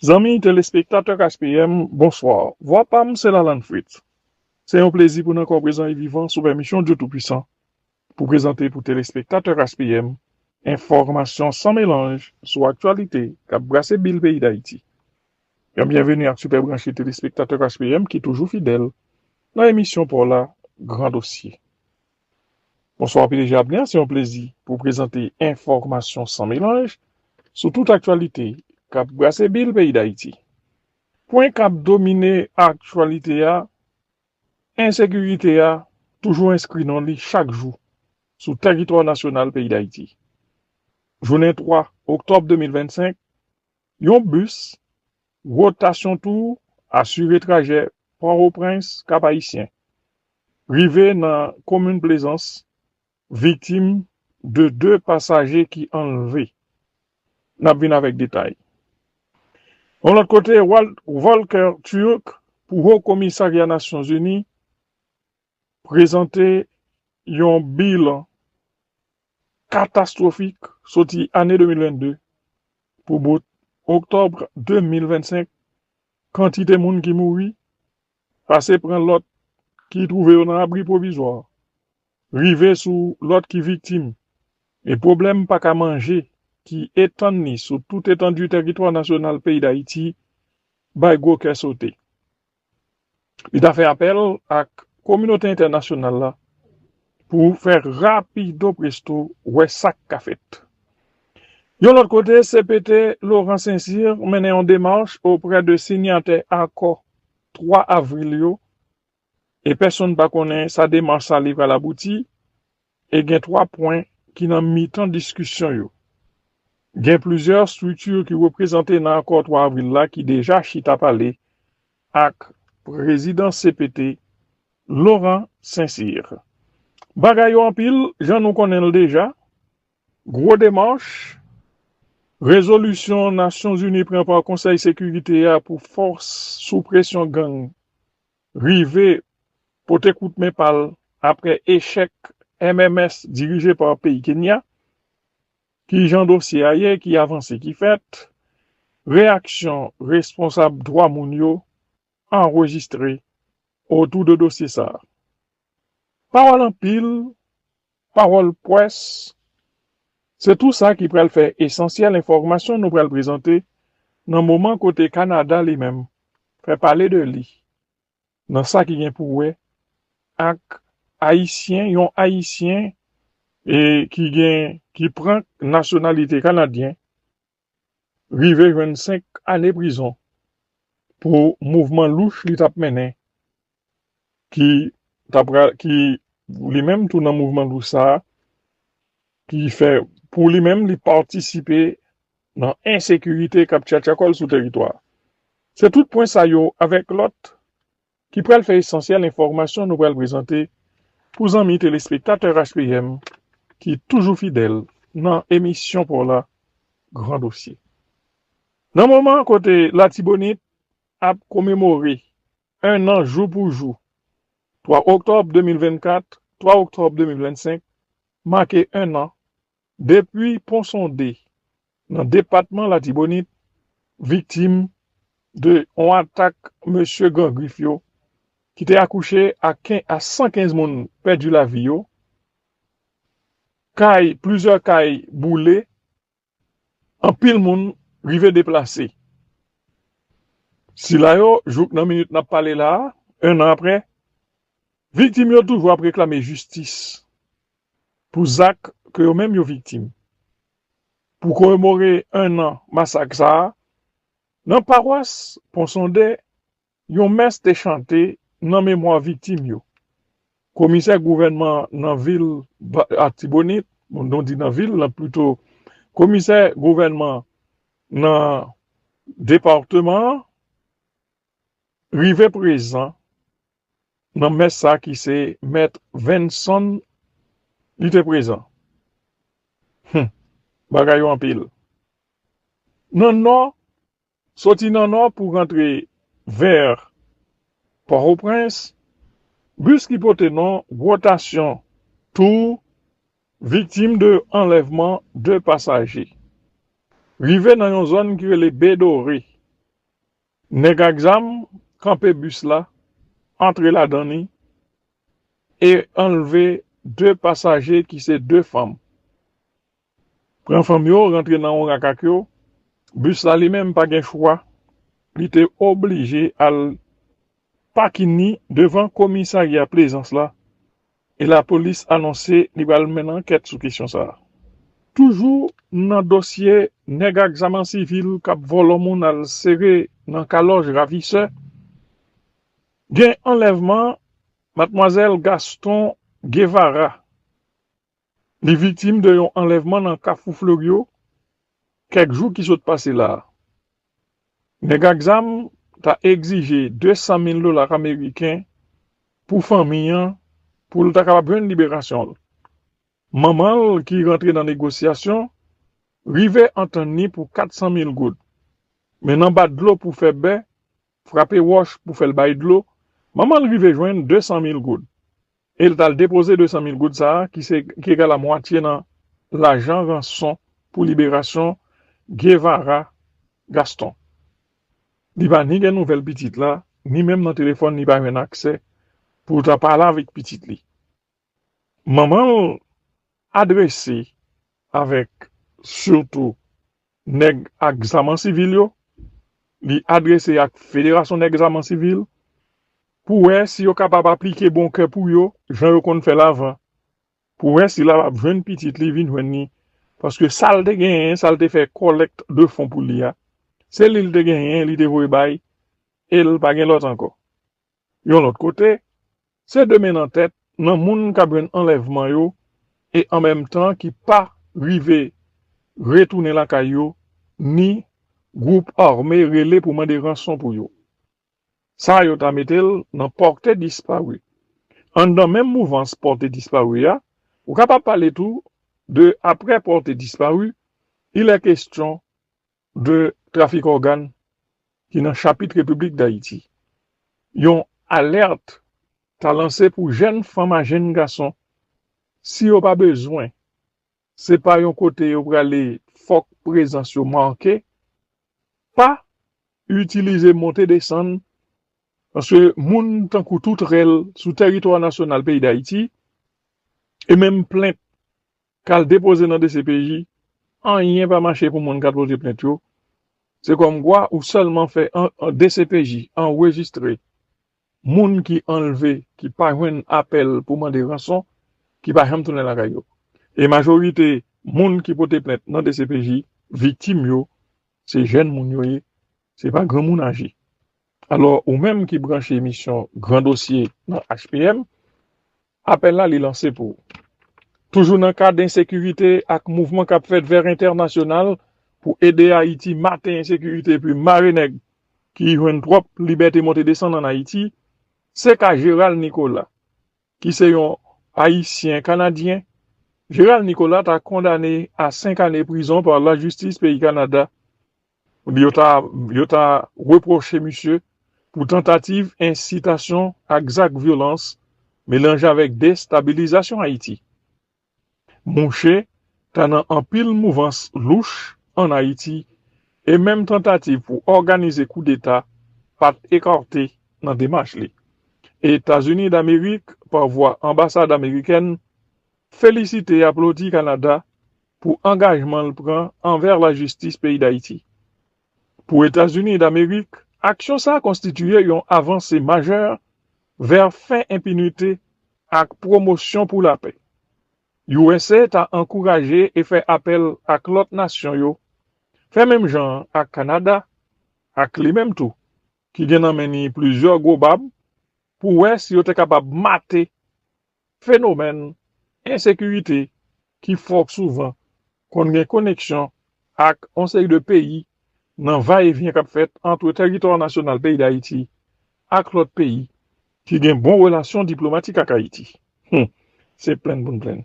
Zanmi telespektatè KSPM, bonsoir. Vwa pa m se Lalane Fritz. Se yon plezi pou n ankò prezan e vivan sou pèmisyon Dye Toupwisan pou prezante pou telespektatè KSPM enfòmasyon san melanj sou aktyalite k ap brase bil peyi Dayiti. Yon byenveni ak sipèb ranchi telespektatè KSPM ki toujou fidèl nan emisyon pa w la Gran Dosye. Bonswa pdg Abner se yon plezi pou w prezante enfòmasyon san melanj sou tout aktyalite kap brase bil peyi dayiti. Pwen kap domine aktyalite a, ensekirite a toujou enskri non li chak jou sou tèritwa nasyonal peyi dayiti. Jounen 3 oktòb 2025 yon bis Wotasyon tou asire trajè Pòtoprens, Kapayisyen, rive nan komin Plezans viktim de 2 pasaje ki anlve. N ap vin avèk detay. Yon lòt kote, Volker Türk pou Ho Komisarya Nasyonzini prezante yon bilan katastwofik soti ane 2022 pou bout oktòb 2025, kantite moun ki mouri, pase pran lòt ki twouve yo nan abri pwovizwa, rive sou lòt ki viktim, e pwoblèm pa ka manje ki etann ni sou tout etandu tèritwa nasyonal peyi Dayiti bay gwo kè sote. Li ta fè apèl ak kominote entènasyonal la pou fè rapido presto wè sa k ka fèt. Yon lòt kote, cpt Laurent Saint-Cyr mennen yon demach oprè de sinyatè akò 3 avril yo e pèsonn pa konnen sa demach sa li pral abouti E gen twa pwen ki nan mitan diskisyon yo. Gen plizyè estrikti ki reprezante nan akò 3 avril la ki deja chita pale ak prezidan cpt, Laurent Saint-Cyr. Bagay yo anpil, jan nou konnen l deja, gwo demach, rezolisyon Nasyonzini pran pa Konsèy Sekirite a pou fòs sou presyon gang rive pote kout men pa l apre echèk MMS dirije pa peyi Kenya, ki jan dosye a ye, ki avanse ki fèt, reyaksyon responsab dwa moun yo anrejistre otou de dosye sa a. Pawòl anpil Pawòl pwès, Se tou sa ki pral fè esansyèl enfòmasyon nou pral prezante nan moman kote Kanada li menm fè pale de li nan sa ki gen pou wè ak Ayisyen, yon Ayisyen ki gen, ki pran nasyonalite Kanadyen rive jwenn 5 ane prizon pou mouvman louch li t ap mennen ki t ap pral ki li menm tou nan mouvman louch sa ki fè pou li menm li patisipe nan ensekirite k ap tchatcha kò l sou teritwa a. Se tout pwen sa yo avèk lòt ki pral fè esansyèl enfòmasyon nou pral prezante pou zanmi telespektatè HPM ki toujou fidèl nan emisyon pa w la Gran Dosye. Nan moman kote Latibonit ap komemore 1 an jou pou jou, 3 oktòb 2024, 3 oktòb 2025 make 1 an Depi Ponsonde, nan depatman Latibonit, viktim de yon atak mesye Gran Grif yo ki te akouche a 115 moun pèdi lavi yo, kay plizyè kay boule, anpil moun rive deplase. Sila yo, jouk nan minit nap pale la, 1 an aprè, viktim yo toujou ap reklame jistis pou zak ke yo menm yo viktim. Pou komemore 1 an masak sa a, nan pawas Ponsonde, yon mès te chante nan memwa viktim yo. Komisè gouvènman nan vil Atibonit, bon nou di nan vil la pito, komisè gouvènman nan departeman an rive prezan Nan mès sa ki se mèt Venson li te prezan. Hum! Bagay yo anpil. Nan nò, soti nan nò pou rantre vèr Pòtoprens, bis ki pote non Wotasyon tou viktim de anlèvman 2 pasaje. Rive nan yon zòn ki rele Bedore, Nèg ak zam kanpe bis la, antre ladan li e anlve 2 pasaje ki se 2 fanm. Pran fanm yo, rantre nan yon rak ak yo. Bis la li menm pa gen chwa, li te oblije al pakini devan komisarya Plezans la E lapolis anonse li pral menn ankèt sou kesyon sa a. Toujou nan dosye nèg ak zam an sivil k ap vòlò moun al sere nan kalòj ravisè, gen anlèvman matmwazèl Gaston Guevara. Li viktim de yon anlèvman nan Kafou Fleuryo kèk jou ki sot pase la a. Nèg ak zam ta egzije 200 mil dola ameriken pou fanmi an pou l ta kapab jwenn liberasyon l. Manman l ki rantre nan negosyasyon rive antann ni pou 400 mil goud. Men nan bat dlo pou fè bè, frape wòch pou fè l bay dlo, manman l rive jwenn 200 mil goud. e l t al depoze 200 mil goud sa a ki se ki egal a mwatye nan lajan ranson pou liberasyon Guevara Gaston. Li pa ni gen nouvèl pitit la, ni menm nan telefòn li pa jwenn aksè pou l ta pale avèk pitit li. Manman l adrese avèk sitou Nèg ak zam an sivil yo, li adrese ak Federasyon Nèg Zam an Sivil pou wè si yo kapab aplike bon kè pou yo jan yo konn fè l avan, pou wè si l ap ap jwenn pitit li vin jwenn li paske sa l te genyen, sa l te fè kòlèkt de fon pou li a, se li l te genyen li te voye bay e l pa gen lòt ankò. Yon lòt kote, se 2 men nan tèt nan moun kap jwenn anlèvman yo e an menm tan ki pa rive retounen lakay yo ni gwoup ame rele pou mande ranson pou yo. Sa yo ta mete l nan porte disparu. Anndan menm mouvans porte disparu a, ou kapab pale tou de apre porte disparu, il est question 2 trafik ògàn ki nan chapit Repiblik Dayiti. Yon alèt ta lanse pou jèn fanm a jèn gason si yo pa bezwen se pa yon kote yo prale fòk prezans yo make pa itilize monte desann paske moun tankou toutrèl sou tèritwa nasyonal peyi Dayiti e menm plent Kal depoze nan dcpj anyen pa mache pou moun kal poze plent yo se kòm kwa ou sèlman fè dcpj anrejistre moun ki anlve ki pa jwenn apèl pou mande ranson ki pa janm tounen lakay yo e majorite moun ki pote plent nan dcpj viktim yo se jèn moun yo ye se pa granmoun aje alò ou menm ki branche emisyon gran dosye nan HPM Apèl la li lanse pou. Toujou nan kad ensekirite ak mouvman kap fèt vè entènasyonal pou ede Ayiti mate ensekirite epi mare nèg ki jwenn twòp libète monte desann an Ayiti, se ka Gérald Nicolas ki se yon Ayisyen Kanadyen, Gérald Nicolas ta kondane a 5 ane prizon pa lajistis peyi Kanada Ebyen yo ta yo ta repwoche misye pou tantativ ensitasyon ak zak vyolans melanje avèk destabilizasyon Ayiti. Mouche ta nan anpil mouvans louch an Ayiti e menm tantativ pou òganize koudeta pat ekarte nan demach li. Etazini Damerik pa vwa anbasad amerikèn felisite e aplodi Kanada pou angajman l pran anvè lajistis peyi Dayiti. Pou Etazini Damerik, aksyon sa konstitiye yon avanse majè vè fen enpinite ak pwomosyon pou lapè. Usa ta ankouraje e fè apèl ak lòt nasyon yo fè menm jan an ak Kanada, ak li menm tou ki gen nan men ni plizyè gwo bab, pou wè si yo te kapab mate Fenomèn ensekirite ki fò souvan konn gen koneksyon ak yon seri de peyi nan va e vyen k ap fèt antre tèritwa nasyonal peyi Dayiti ak lòt peyi ki gen bon relasyon diplomatik ak Ayiti. Hum! Se plenn pou n plenn.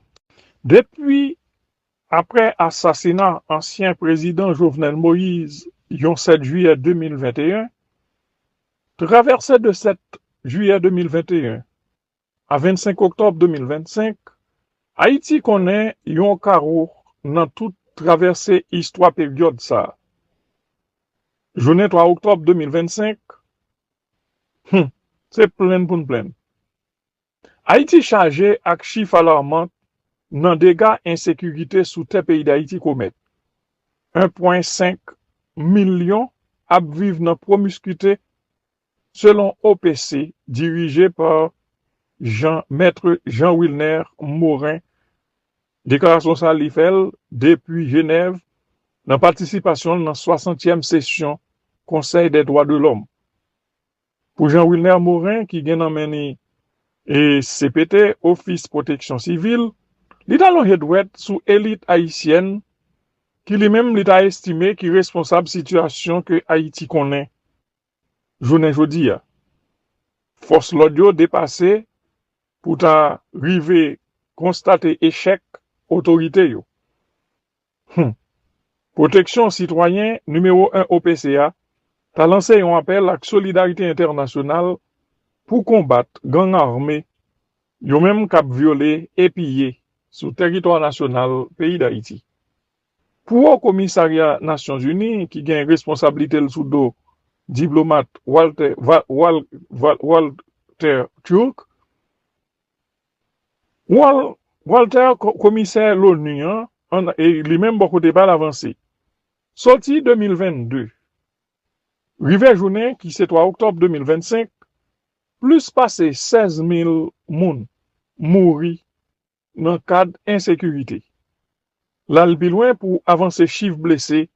Depi aprè asasina ansyen prezidan Jovenel Moïse yon 7 jiyè 2021, travèse de 7 jiyè 2021, A 25 oktòb 2025, Ayiti konnen yon karo nan tout travèse istwa peryòd sa a. Jounen 3 oktòb 2025, Hum! Se plenn pou n plenn. Ayiti chaje ak chif alarman nan dega ensekirite sou tè peyi Dayiti komèt. 1 pwen 5 milyon ap viv nan pwomiskite Selon OPC, dirije pa Jean Maitre Jean Wilner Morin, deklarasyon sa li fè l depi Jenèv nan patisipasyon l nan swasantyèm sesyon Konsèy dè dwa de lòm. Pou Jean Wilner Morin ki gen nan men ni cpt, Ofis Pwoteksyon Sivil, li ta lonje dwèt sou elit ayisyèn ki li menm li ta estime ki responsab sitiyasyon ke Ayiti konnen jounen jodi a. Fòs lòd yo depase pou ta rive konstate echèk otorite yo. Hum! Pwoteksyon Sitwayen nimewo 1 OPC a ta lanse yon apèl ak solidarite entènasyonal pou konbat gang ame yo menm k ap vyole e piye sou tèritwa nasyonal peyi Dayiti. Pou Wo Komisarya Nasyon Zini ki gen responsablite l sou do diplomat Walter Türk, Walter Komisè l'ONU an li menm bò kote pa l avanse, sòti 2022 rive jounen ki se 3 oktòb 2025, plis pase 16 mil moun mouri nan kad ensekirite. L al pi lwen pou avanse chif blese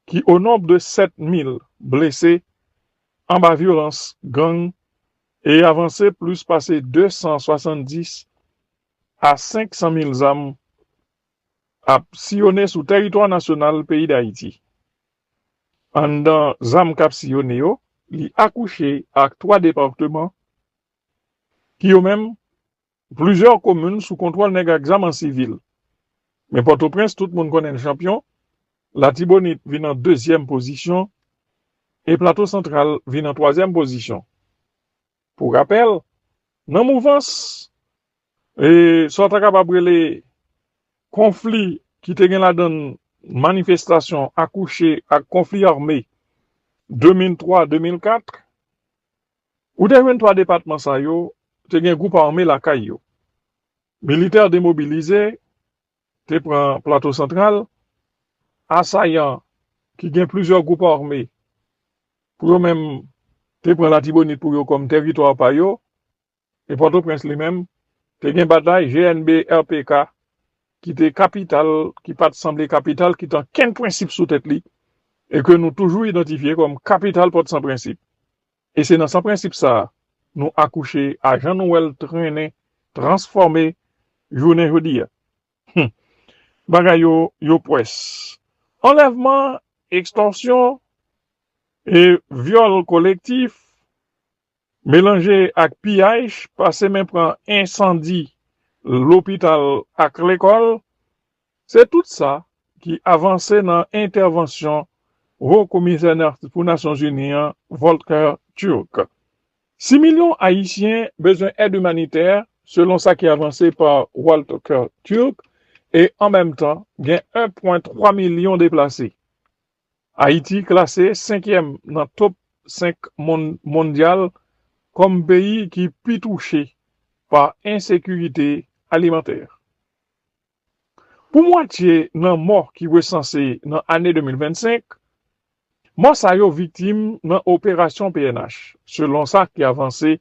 ki o nonb de 7 mil blese anba vyolans gang e avanse plis pase 270 a 500 mil zam ap siyone sou tèritwa nasyonal peyi Dayiti. Anndan zam k ap siyone yo, li akouche ak 3 departeman ki yo menm Plizyè komin sou kontwòl nèg ak zam an sivil. Men Pòtoprens tout moun konnen l chanpyon, Latibonit vin an dezyèm pozisyon e Plato Santral vin an twazyèm pozisyon. Pou rapèl, nan mouvans e sa w ta kapab rele konfli ki te gen ladan l manifestasyon akouche ak konfli ame 2003-2004, Ou te jwenn 3 depatman sa yo te gen gwoup ame lakay yo. Militè demobilize te pran Plato Santral, asayan ki gen plizyè gwoup ame pou yo menm te pran Latibonit pou yo kòm tèritwa pa yo e Pòtoprens li menm te gen batay GNB RPK ki te kapital ki pat sanble kapital ki tan kenn prensip sou tèt li e ke nou toujou idantifye kòm kapital pòt san prensip. E se nan san prensip sa a nou akouche a jan nou wè l trennen, transfòme jounen jodi a. Hum! Bagay yo, yo pwès. Anlèvman, ekstòsyon e vyòl kolektif melanje ak piyaj pase men pran ensandi lopital ak lekòl, Se tout sa ki avanse nan entèvansyon Wo Komisè pou Nasyonzini an, Volker Türk. Si milyon Ayisyen bezwen èd imanitè, selon sa ki avanse pa Volker Türk, e an menm tan gen 1 pwen 3 milyon deplase, Ayiti klase senkyèm nan top 5 mondyal kòm peyi ki pi touche pa ensekirite alimantè. Pou mwatye nan mò ki resanse nan ane 2025, mò sa yo viktim nan operasyon pnh, selon sa ki avanse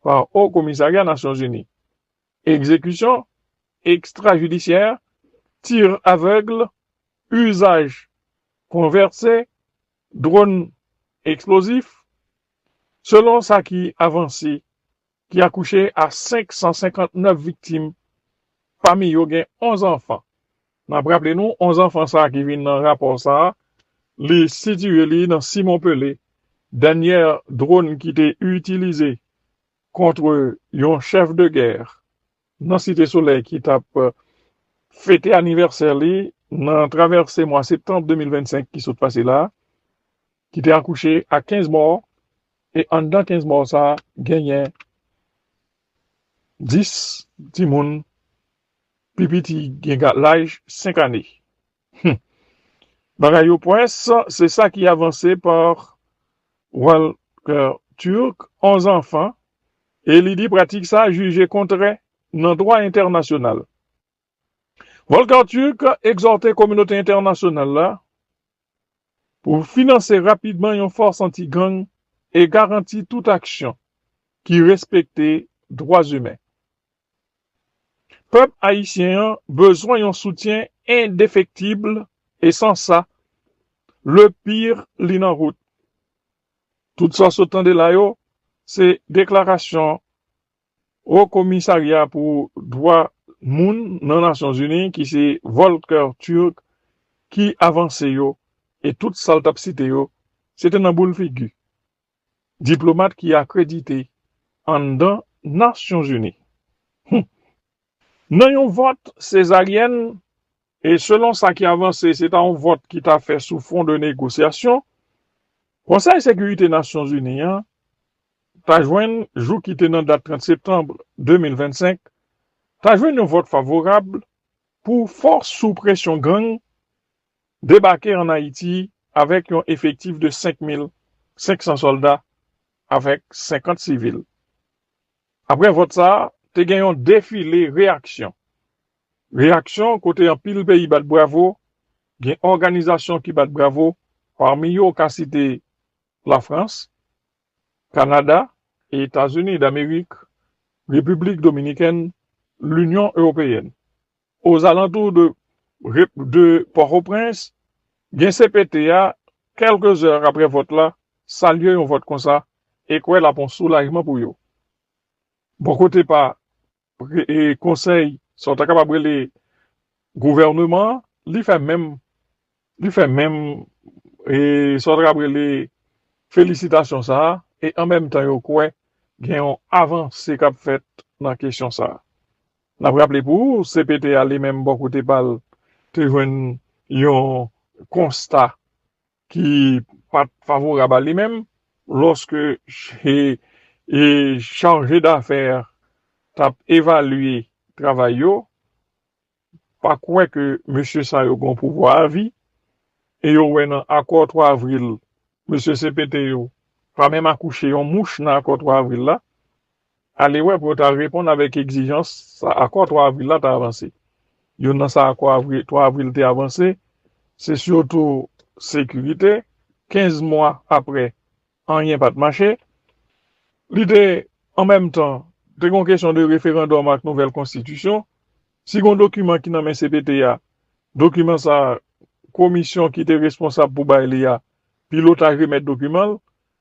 pa Haut Commissariat Nasyon Zini. Egzekisyon ekstrajidisyè, tir aveugle, uzaj pwen verte, dronn eksplozif, selon sa ki avanse ki akouche a 559 viktim, pami yo gen 11 anfan. N ap raple nou, 11 anfan sa ki vin nan rapò sa, li sitiye li nan Simon Pele, dènyè dronn ki te itilize kontre yon chèf de gè nan Site Solèy ki t ap fete anivèsè li nan travèse mwa septanm 2025 ki sot pase la, ki te akouche ak 15 mò e anndan 15 mò sa genyen 10 timoun pi piti gen laj 5 ane. Humm bagay yo pwès se sa ki avanse par Walker Turk 11 anfan e li di pratik sa jije kontrè nan dwa entènasyonal. Volker Türk egzòte kominote entènasyonal la pou finanse rapidman yon fòs anti-gang e garanti tout aksyon ki respekte dwa imen. Pèp ayisyen an bezwen yon soutyen endefektib e san sa, le pire li nan wout. Tout sa w sot tande la yo, se deklarasyon Wo Komisarya pou Dwa Moun nan Nasyon Zini ki se Volker Türk ki avanse yo e tout sa l t ap site yo se te nan boul figi. Diplomat ki akredite anndan Nasyonzini. Hum! Nan yon vòt sezaryèn, e selon sa ki avanse se ta yon vòt ki ta fè sou fon de negosyasyon, Konsèy Sekirite Nasyonzini an ta jwenn, jou ki te nan dat 30 septanb 2025, ta jwenn yon vòt favorab pou fòs sou presyon gang debake an Ayiti avèk yon efektif de 5,500 sòlda avèk 50 sivil. Aprè vòt sa a, te gen yon defile reyaksyon. Reyaksyon kote anpil peyi bat bravo, gen òganizasyon ki bat bravo, pami yo ou ka site Lafrans, Kanada, Etazini Damerik, Repiblik Dominikèn, Linyon Ewopeyèn. Ozalantou de rep de Pòtoprens, gen cpt a, kèlke zè aprè vòt la, salye yon vòt konsa e kwè l ap yon soulajman pou yo. Bò kote pa Konsèy, sa w ta kapab rele gouvèneman an, li fè menm, li fè menm sa w ta kapab rele felisitasyon sa a e an menm tan yo kwè gen yon avanse k ap fèt nan kesyon sa a. N ap raple pou ou, cpt a li menm bò kote pa l te jwenn yon konsta ki pa t favorab a li menm lòske charje dafè t ap evalye travay yo, pa kwè ke mesye sa yo gon pouvwa avi e yo wè nan akò 3 avril mesye cpt yo pa menm akouche yon mouch nan akò 3 avril la, Alewè pou yo ta reponn avèk egzijans sa akò 3 avril la ta avanse. Youn nan sa akò 3 avril te avanse, se sitou sekirite, 15 mwa aprè anyen pat mache. Li te an menm tan te gon kesyon de referandòm ak nouvèl konstitisyon. Si gon dokiman ki nan men cpt a, dokiman sa komisyon ki te responsab pou bay li a pilotaj remèt dokiman l,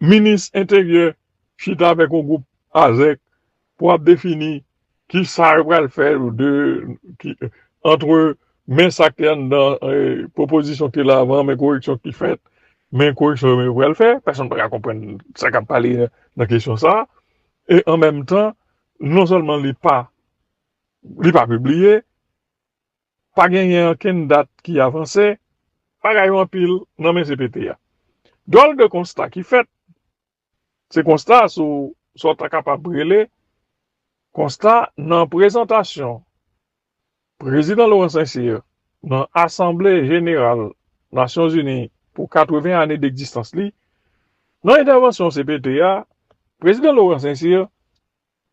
Minis enteryè chita avèk yon gwoup Azèk pou ap defini ki sa yo pral fè de antre men sa k te anndan pwopozisyon ki te la avan men koreksyon ki fèt men koreksyon yo pral fè pèsonn pa ka konprann sa k ap pale nan kesyon sa a e an menm tan non sèlman li pa li pa pibliye. Pa genyen ankenn dat ki avanse, bagay yo anpil nan men cpt a. Dwòl de konsta ki fèt, se konsta sou sa w ta kapab rele konsta nan prezantasyon Prezidan Laurent Saint-Cyr nan Asanble Jeneral Nasyonzini pou 80 ane dekzistans li. Nan entèvansyon cpt a, Prezidan Laurent Saint-Cyr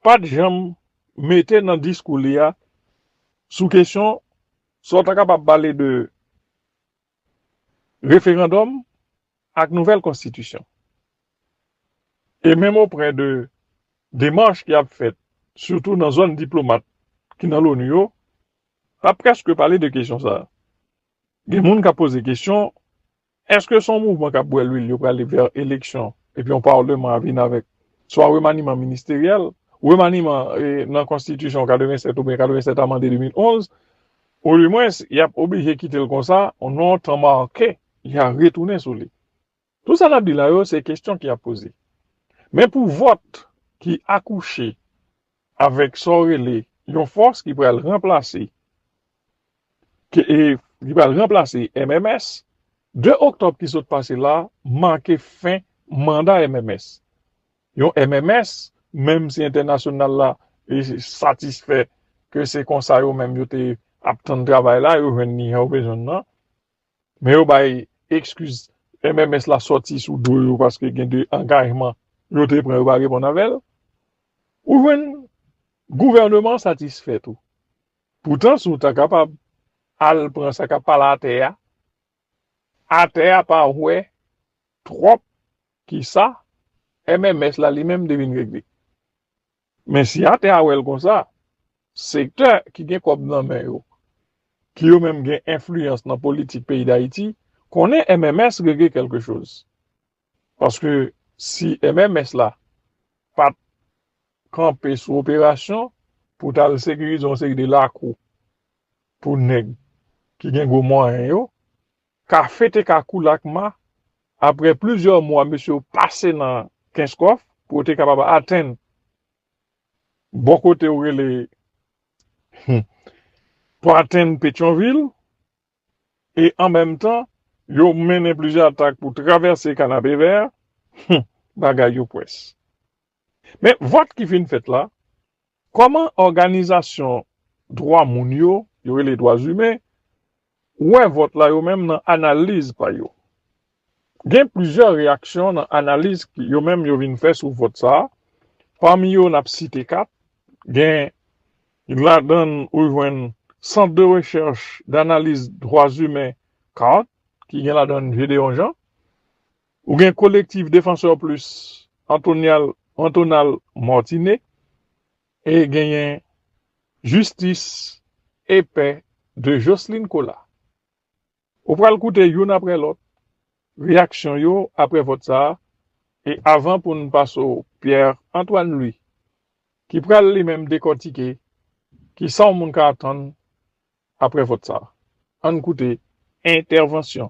pat janm mete nan diskou li a sou kesyon sa w ta kapab pale de referandòm ak nouvèl konstitisyon. E menm oprè de demach ki ap fèt sitou nan zòn diplomat ki nan Loni yo, pa prèske pale de kesyon sa a. Gen moun k ap poze kesyon Eske son mouvman kap bwè lwil yo prale vè eleksyon epi yon parleman a vin avèk swa remaniman ministeryèl, remaniman nan konstitisyon 87 oubyen 87 amande 2011, ou di mwens yap oblije kitel konsa nan yon tan make ya retounen sou li. Tout sa nap di la yo se kestyon ki ap poze. Men pou vòt ki akouche avèk sa w rele yon fòs ki pral ranplase ki pral ranplase MMS, 2 oktòb ki sot pase la make fen manda MMS, yon MMS menm si entènasyonal la satisfè ke se konsa yo menm yo te ap tann travay la yo jwenn ni jan yo bezwen l lan, Men yo bay ekskiz MMS la sòti sou do yo paske gen de angajman yo te pran yo pa reponn avè l. Ou jwenn gouvèneman an satisfè tou. Poutan si w ta kapab al pran sa k ap pale atè a, atè a pa wè twòp kisa MMS la li menm te vin regle. Men si atè a wè l konsa, sektè ki gen kòb nan men yo, ki yo menm gen enfliyans nan politik peyi Dayiti, konnen MMS regle kèlke choz. Paske si MMS la pa t kanpe sou operasyon pou t al sekirize yon seri de lakou pou nèg ki gen gwo mwayen yo, Kafe te ka kou lakma apre plizyè mwa mesye yo pase nan Kenskòf pou yo te kapab atenn bò kote yo rele pou atenn Petyonvil e an menm tan yo mennen plizyè atak pou travèse Kanapevè, bagay yo pwès. Men, vòt ki fin fèt la, kòman òganizasyon dwa moun yo, yo rele dwazimen, wè vòt la yo menm nan analiz pa yo? Gen plizyè reyaksyon nan analiz yo menm yo vin fè sou vòt sa a, pami yo n ap site 4, gen ladan l ou jwenn Centre de recherche d'analyse droits humains, cart, ki gen ladan l Gédéon Jean, Ou gen Collectif Défenseurs Plus Antonial Antonal Mortine e genyen Jistis e Pè de Jocelyne Cola. Ou pral koute youn aprè lòt reyaksyon yo aprè vòt sa a e avan pou n pase w Pierre Antoine Louis ki pral li menm dekòtike ki sa w moun ka atann aprè vòt sa a. An n koute entèvansyon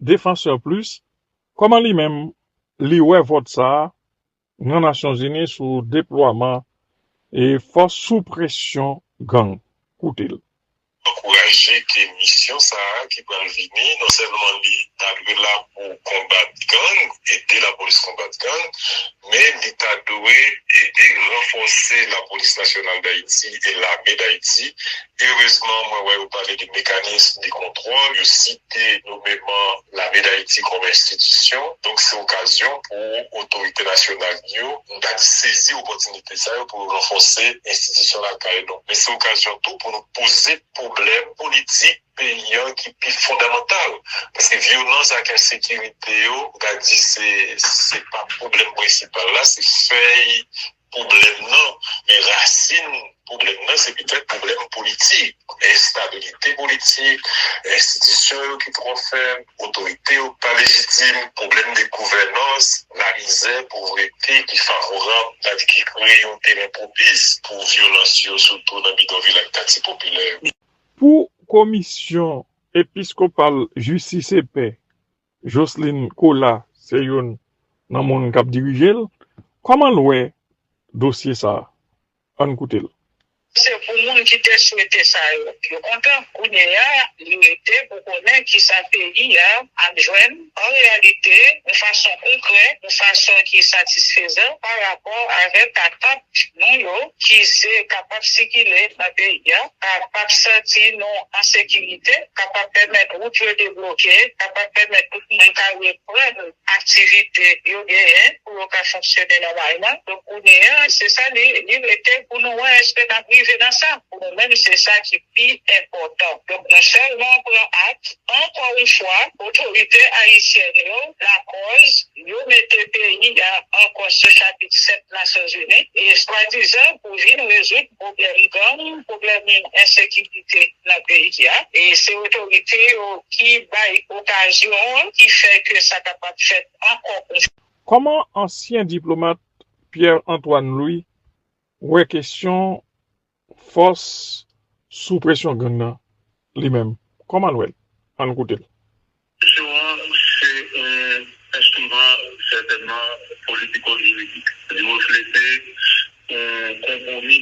Défenseurs Plus, kòman li menm li wè vòt sa a nan Nasyonzini sou deplwaman e fòs sou presyon gang? Koute l. Ankouraje ke misyon sa a ki pral vini non sèlman li ta dwe la pou konbat gang, ede lapolis konbat gang, men li ta dwe ede ranfòse Lapolis Nasyonal Dayiti e Lame Dayiti. Erezman, mwen wè yo pale de mekanism de kontwòl, yo site nomeman Lame Dayiti kòm enstitisyon. Donk, se okazyon pou otorite nasyonal yo, m ta di sezi opòtinite sa yo pou yo ranfòse enstitisyon lakay nou. Men se okazyon tou pou nou poze pwoblèm politik peyi an ki pi fondamantal paske vyolans ak ensekirite yo ou ka di se pa pwoblèm prensipal la se fèy pwoblèm nan men rasin pwoblèm nan se petèt pwoblèm politik enstabilite politik enstitisyon yo ki twò fèb otorite yo ki pa lejitim pwoblèm de gouvènans lamizè povrete ki favorab sadi ki kreye yon teren pwopis pou vyolans yo sitou nan bidonvil ak katye popilè yo. Pou komisyon episkopal jistis e pè, Jocelyne Colas se youn nan moun k ap dirije l, kòman l wè dosye sa? Ann koute l. Se pou moun ki te swete sa yo, yo kontan. Kounyeya, li rete pou konnen kisa peyi a ap jwenn. An reyalite, yon fason konkrè, yon fason ki satisfezan pa rapò avèk patap nou yo ki se kapab sikile nan peyi a, kapab santi nou an sekirite, kapab pèmèt wout yo debloke, kapab pèmèt tout moun ka reprann aktivite yo genyen. pou yo ka fonksyone nòmalman. Donk kounye a, se sa li rete pou nou wè èske n ap rive nan sa. Pou nou menm, se sa ki pi enpòtan. Donk mwen sèlman pran ak, ankò yon fwa, otorite ayisyèn yo lakòz yo mete peyi a ankò sou chapit 7 Nasyonzini e swadizan pou vin rezoud pwoblèm gang, pwoblèm ensekirite nan peyi a. E se otorite yo ki bay okazyon an ki fè ke sa kapab fèt. ankò ou. Kòman ansyen diplomat Pierre Antoine Louis wè kesyon fòs sou presyon gang nan li menm? Kòman l wè l? An n koute l. Presyon an se yon enstriman sètènman politiko-jiridik. Li reflete yon konpwomi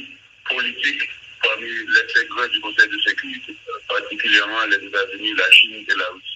politik pami lè sè gran di Konsèy de Sekirite, patikilyèman Lèzetazini, Lachin e Larisi.